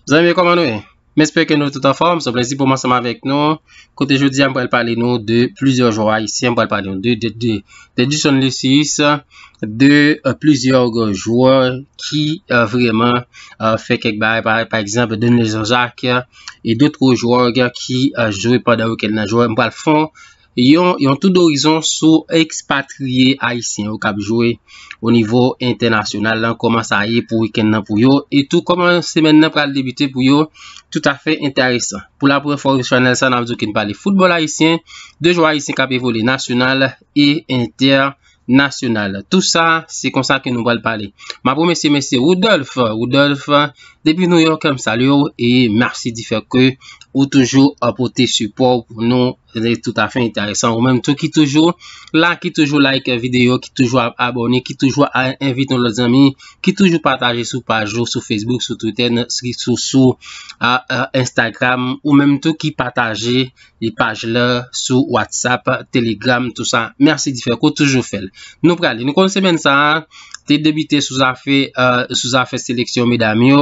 Zanmi, koman nou ye? M espere ke nou tout anfòm, se plezi pou m ansanm avèk nou Kote jodi an pral pale nou de plizyè jwè ayisyen pral pale nou de Edison Lucis de plizyè jwè ki vreman fè kèk bagay pa egzanp Dene Jean Jacques e dot gwo jwè ki jwe pandan wikèn nan jwè pral fon yon tou dorizon sou ekspatriye ayisyen yo kap jwe o nivo entènasyonal lan koman sa ye pou wikèn nan pou yo e tou koman semen nan pral debite pou yo tout afè entèresan. Pou la premye fwa sou chanèl sa nap di w ke n pale foutbòl ayisyen, de jwè ayisyen kap evolye nasyonal e entènasyonal. Tou sa se konsa ke nou pral pale. Map remèsye mesye Woudòlf, Woudòlf depi Nouyòk m salye w e mèsi di fè ke ou toujou pote sipò w pou nou. Se te tout afe enteresan. Ou menm tou ki toujou la, ki toujou like video, ki toujou abone, ki toujou a envite yon lot zanmi, ki toujou pataje sou paj ou, sou Facebook, sou Twitter, sou Instagram. Ou menm tou ki pataje li paj la sou WhatsApp, Telegram, tout sa. Merci di fe. Kou toujou fel. Nou prale. Nou kon semen sa, te debite sou afe seleksyon medam yo.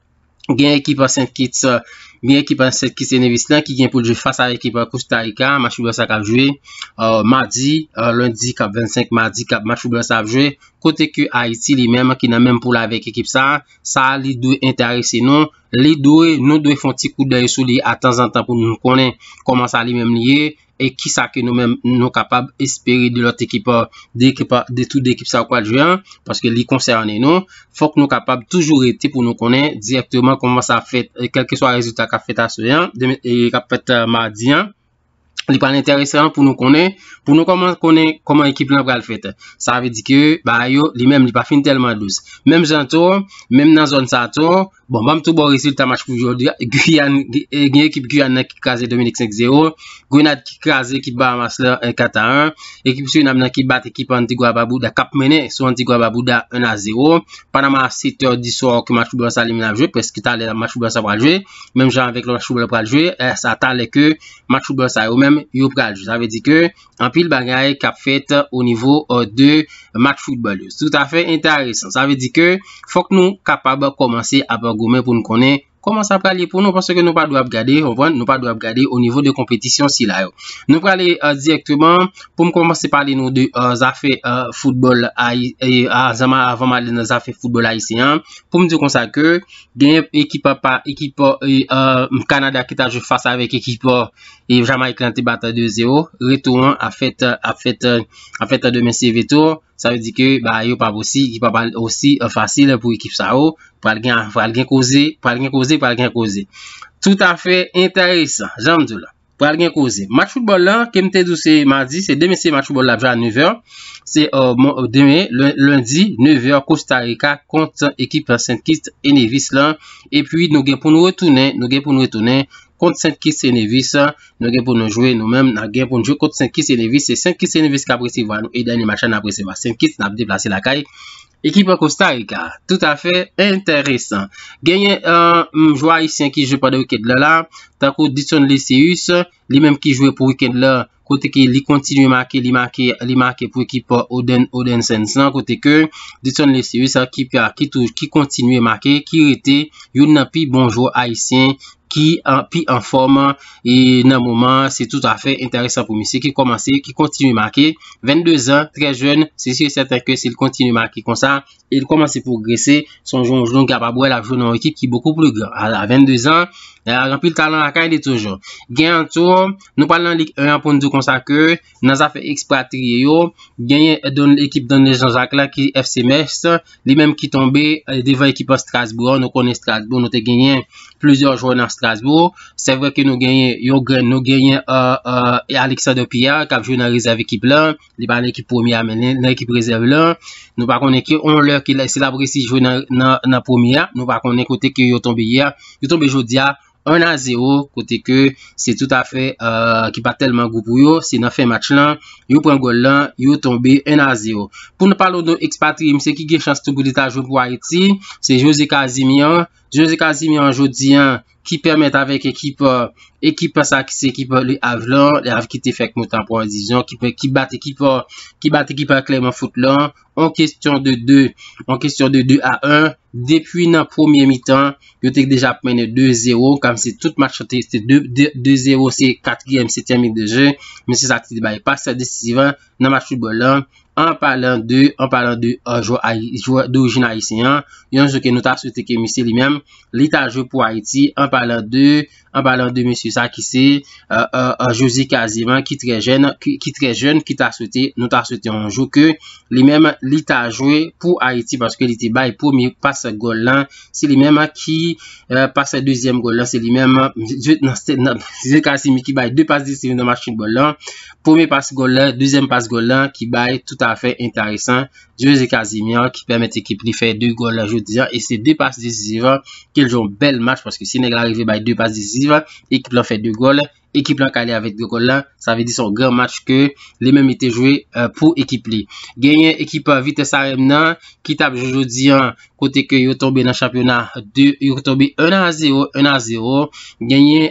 Gen ekip an Sent Kits, gen ekip an Sent Kits e Nevis lan ki gen pou l jwe fas a ekip Kosta Rika. Match foutbòl sa kap jwe madi, lendi kap 25 madi kap match foutbòl sa ap jwe. Kote ke Ayiti li menm ki nan menm poul avèk ekip sa, sa li dwe enterese nou. Li dwe, nou dwe fon ti kout dèy sou li a tanzantan pou nou konnen kòman sa li menm li ye. e kisa ke nou menm nou kapab espere de lòt ekip, de tout de ekip sa yo k pral jwe an, paske li konsène nou, fòk nou kapab toujou rete pou nou konnen direktman kòman sa ap fèt, kèlke swa rezilta k ap fèt aswè an, k ap fèt madi an, li pral entèresan pou nou konnen, pou nou konnen kòman ekip lan pral fèt. Sa vle di ke bagay yo, li menm li pa fin tèlman dous. Menm jan tou, menm nan zòn sa tou, Bon, banm tou bon rezilta match pou jodi a. Guyane, eh, gen ekip Guyane nan ki kraze Dominik 5-0. Grenade ki kraze ekip Bahamas la 4-1. Eh, ekip Surinam nan ki bat ekip Antigua Babouda kap menen sou Antigua Babouda 1-0. Panama 7 or di sor ki match pou blan sa li mena jwe. Pwes ki tale match pou blan sa pral jwe. Menm jan avèk lò match pou blan pral jwe. Eh, sa tale ke match pou blan sa yo menm yo pral jwe. Sa ve di ke anpil bagay kap fèt o nivo de match football yo. Tout afè entèresan. Sa vle di ke fòk nou kapab kòmanse ap goumen pou nou konnen kòman sa pral ye pou nou paske nou pa dwe ap gade, konprann, nou pa dwe ap gade o nivo de konpetisyon sila yo. Nou prale direkteman pou m kòmanse pale nou de zafè football avan m ale nan zafè football ayisyen an. Pou m di konsa ke gen ekip pa, ekip Kanada ki ta jwe fas avèk ekip. E Jamayik lan te bat 2-0. Retou an ap fèt ap fèt ap fèt demen se retou. Sa vle di ke bagay yo pa p osi ki pa pral osi fasil pou ekip sa yo. Pral gen pral gen koze pral gen koze pral gen koze. Toutafè enteresan jan m di w la. Pral gen koze. Match foutbòl la ke m te di w se madi se demen se match foutbòl la ap jwe a 9 è. Se demen lendi 9 è Kostarika kont ekip Sent Kit e Nevis lan. Epi nou gen pou nou retounen nou gen pou nou retounen kont Sent Kis e Nevis, nou gen pou nou jwe, nou menm nan gen pou nou jwe kont Sent Kis e Nevis, se Sent Kis e Nevis k ap resevwa nou e dènye match la n ap resevwa Sent Kits, n ap deplase lakay ekip Kosta Rika. Toutafè enteresan. Genyen jwè ayisyen ki jwe pandan wikend lan la, tankou Didson Lecius, li menm ki jwe pou wikend lan kote ke li kontinye make, li make, li make pou ekip Oden, Oden Sens lan, kote ke Didson Lecius sa ki pa, ki tou, ki kontinye make, ki rete youn nan pi bon jwè ayisyen ki an, pi an fòm e nan moman an, se tout afè enteresan pou misye ki kòmanse, ki kontinye make, 22 zan, trè jèn, se si e sèten ke si l kontinye make konsa, e li kòmanse pwogrese, sonje yon jwè ki kapab wè l ap jwe nan yon ekip ki bokou pli gran. A 22 zan, li ak anpil talan lakay li toujou. Gen an tou, nou pral nan Lig 1 an pou n di w konsa ke nan zafè ekspatriye yo, genyen ekip Donel Jean Jacques la ki FC Metz, li menm ki tonbe devan ekip an Strasbourg an. Nou konnen Strasbourg, nou te genyen plizyè jwè nan Strasbourg. Se vre ke nou genyen yon grenn, nou genyen Alexander Pierre k ap jwe nan rezèv ekip la. Li pa nan ekip premye a men nan ekip rezèv la. Nou pa konnen ki on lè ki lè si la presi jwe nan premye a. Nou pa konnen kote ki yo tonbe ye a. Yo tonbe jodi a 1 a 0 kote ke se tout a fè ki pa telman gou pou yo. Se nan fen match lan. Yo pran gol lan. Yo tonbe 1 a 0. Pou nou palo nou ekspatri mse ki gen chans tou pou li ta jwe pou Ayiti. Se Jose Casimir. Jose Casimir jodi a. ki pèmèt avèk ekip ekip sa ki se ekip Le Havre lan, Le Havre ki te fèk monte an premyè divizyon ki fèk ki bat ekip ki bat ekip Clermont Foot lan an kesyon de 2 an kesyon de 2 a 1 depi nan premye mitan yo te deja ap mennen 2 zero kòm se tout match te se 2 zero se katriyèm setyèm minit de je men se sa ki te bay pase desizif an nan match foutbòl la, an palan de, an palan de jwè ay, jwè dorijin ayisyen an, yon jwè ke nou ta swete ke misye li menm, li ta jwe pou Ayiti, an palan de, an palan de mesye sa ki se, José Caziman ki trè jèn, ki trè jèn, ki ta swete, nou ta swete yon jou ke, li menm, li ta jwe pou Ayiti, paske li te bay premye pas gòl lan, se li menm ki pas dezyèm gòl lan, se li menm, José Caziman ki bay 2 pas desizyon nan match foutbòl la, premye pas gòl la, dezyèm pas gòl la ki bay tout afè enteresan Jose Casimir ki pèmèt ekip li fè 2 gòl la jodi a e se 2 pas desiziv ke l jwe yon bèl match paske si nèg la rive bay 2 pas desiziv ekip lan fè 2 gòl, ekip lan kale avèk 2 gòl la sa vle di se yon gran match ke li menm li te jwe pou ekip li. Genyen ekip Vitesse Arem nan ki t ap jwe jodi a kote ke yo tonbe nan chanpyona 2, yo tonbe 1 a 0, 1 a 0, genyen,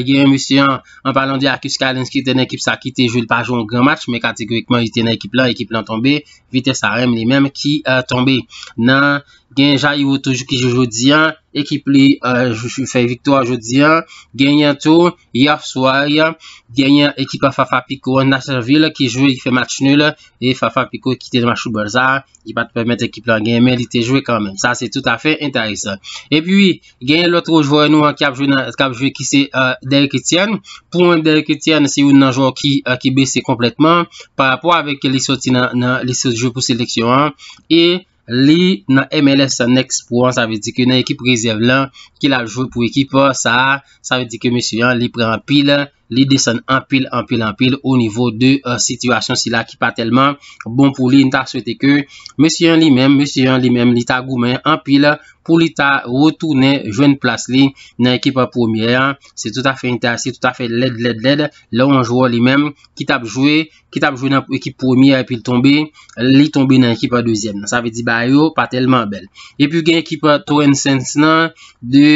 genyen mesye an, an palan de Akis Kalens ki te nan ekip sa ki te jwe, li pa jwe yon gran match, men kategorikman li te nan ekip lan, ekip lan tonbe, Vitesse Arèm li menm ki tonbe nan, genyen Jairo toujou ki jwe jodi an, ekip li fè viktwa jodi an, genyen tou. Yè swa, genyen ekip Fafa Piko an Nasyonvil ki jwe, ki fè match nul e Fafa Piko kite match foutbòl sa a, li pa t pèmèt ekip la genyen men li te jwe kanmenm. Sa se toutafè enteresan. Epi, genyen lòt gwo jwè nou an k ap jwe nan, k ap jwe ki se Derrick Etienne. Pou mwen Derrick Etienne se youn nan jwè ki bese konplètman parapò avèk ke li soti nan, li sot jwe pou seleksyon an e li nan MLS Next Pro an, sa vle di ke nan ekip rezèv lan ke lap jwe pou ekip sa a, sa vle di ke mesye an li pran anpil, li desann anpil, anpil, anpil o nivo de sitiyasyon sila ki pa tèlman bon pou li, nou ta swete ke mesye an li menm, mesye an li menm li ta goumen anpil pou li ta retounen jwenn plas li nan ekip premyè an, se tout afè entèase, tout afè lèd, lèd, lèd lè yon jwè li menm ki tap jwe ki tap jwe nan ekip premye epi l tonbe, li tonbe nan ekip an dezyèm nan. Sa vle di bagay yo pa tèlman bèl. Epi gen ekip Torren Saints nan, de,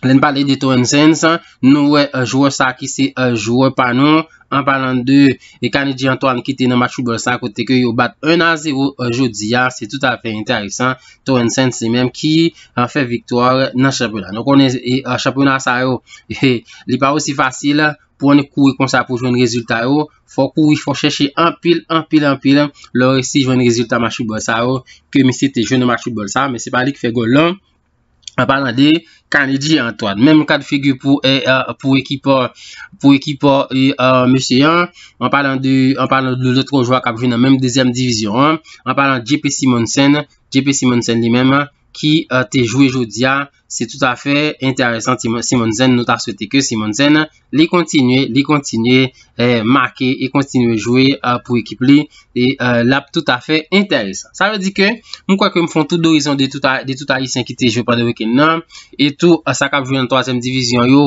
lè n pale de Torren Saints, nou wè jwè sa ki se jwè pa nou, an palan de Kanedji Antwàn ki te nan match foutbòl sa kote ke yo bat 1 a 0 jodi a, se tout afè entèresan, Torren Saints se menm ki fè viktwa nan chanpyona. Nou konnen chanpyona sa yo, li pa osi fasil pou annik kouri konsa pou jwenn rezilta yo, fò kouri, fò chèche anpil, anpil, anpil, lè w resi jwenn rezilta match foutbòl sa yo, ke misye te jwenn nan match foutbòl sa, men se pa li ki fè gòl lan, an palan de Kanedji Antwàn, menm kad figi pou ekip, pou ekip mesye an, an palan de, an palan de lòtro jwa kap jwe nan menm dezyèm divizyon an, an palan de JP Simonsen, JP Simonsen li menm, ki te jwe jodia, an. Se tout a fè entèresan Simone Zen nou ta swete ke Simone Zen li kontinye, li kontinye make e kontinye jwe pou ekip li e l ap tout a fè entèresan. Sa vle di ke m kwè ke m fon tou dorizon de tout ayisyen ki te jwe pandan wikèn nan e tou sa k ap jwe nan twazyèm divizyon yo.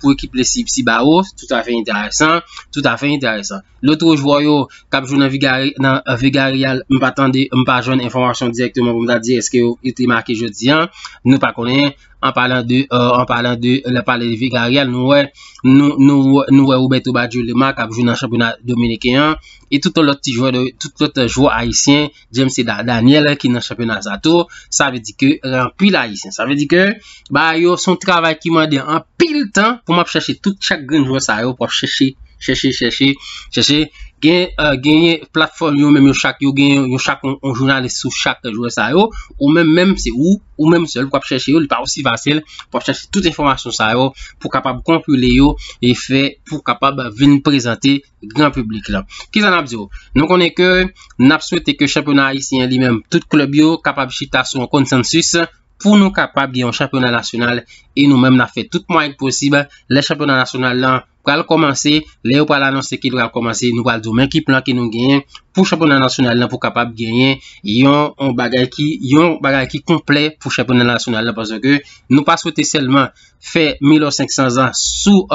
pou ekip le Cibao. Tout afe enteresan, tout afe enteresan. Lotro jwè yo kap jwè nan Vigareal, m pa tande, m pa jwenn enfomasyon direkteman pou m ta di eske yo te make jodi an. Nou pa konnen, an palan de, an palan de, lè pale de Vigareal, nou wè, nou wè Roberto Badjulema kap jwè nan chanpyona Dominiken an. E tout lòt ti jwè, tout lòt jwè Ayisyen. James se Daniel ki nan chanpyona sa tou. Sa vle di ke anpil ayisyen. Sa vle di ke ba yo son travay ki mande anpil tan pou map chache tout chak grenn jwè sa yo pou ap chache, chache, chache, chache. Genyen platfòm yo menm yo chak yo gen yo chak yon jounalis sou chak jwè sa yo. Ou menm menm se ou, ou menm sèl pou ap chache yo. Li pa osi fasil pou ap chache tout enfòmasyon sa yo pou kapab konpile yo e fè pou kapab vin prezante gran publik la. Kisa nap diw? Nou konnen ke nap swete ke chanpyona ayisyen li menm tout klub yo kapab chita sou yon konsansis pou nou kapab gen yon chanpyona nasyonal e nou menm nap fè tout mwayenn posib lè chanpyona nasyonal lan pral komanse, lè yo pral anonse ke li pral komanse nou pral diw men ki plan ke nou genyen pou chanpyona nasyonal lan pou kapab genyen yon bagay ki konplè pou chanpyona nasyonal lan paske nou pa swete selman fè mil ou senk san zan sou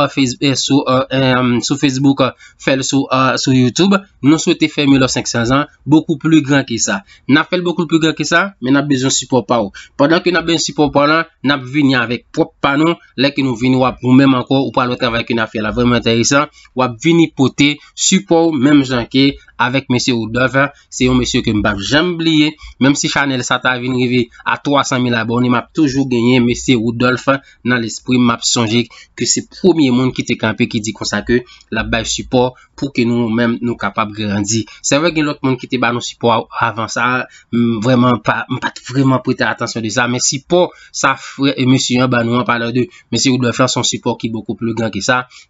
facebook fèl sou youtube nou swete fè mil ou senk san zan bokou pli gran ke sa nap fèl bokou pli gran ke sa men nap bezwen sipò pa ou pandan ke nap bezwen sipò pa ou lan nap vini avèk pwòp pa nou lè ke nou vini wap ou menm ankò ou pral wè travay ke nap fè la vreman enteresan wap vini pote sipò ou menm jan ke avèk mesye Woodove. Se yon mesye ke m pap janm bliye, menm si chanèl sa ta vin rive a 300 mil abòne m ap toujou genyen mesye Woudòlf nan lespri m, m ap sonje ke se premye moun ki te kanpe ki di konsa ke l ap bay sipò pou ke nou menm nou kapab grandi. Se vre gen lòt moun ki te ba nou sipò avan sa, m vrèman pa, m pa t vrèman prete atansyon de sa, men sipò sa frè e mesye an ba nou an palan de mesye Woudòlf lan se yon sipò ki bokou pli gran ke sa,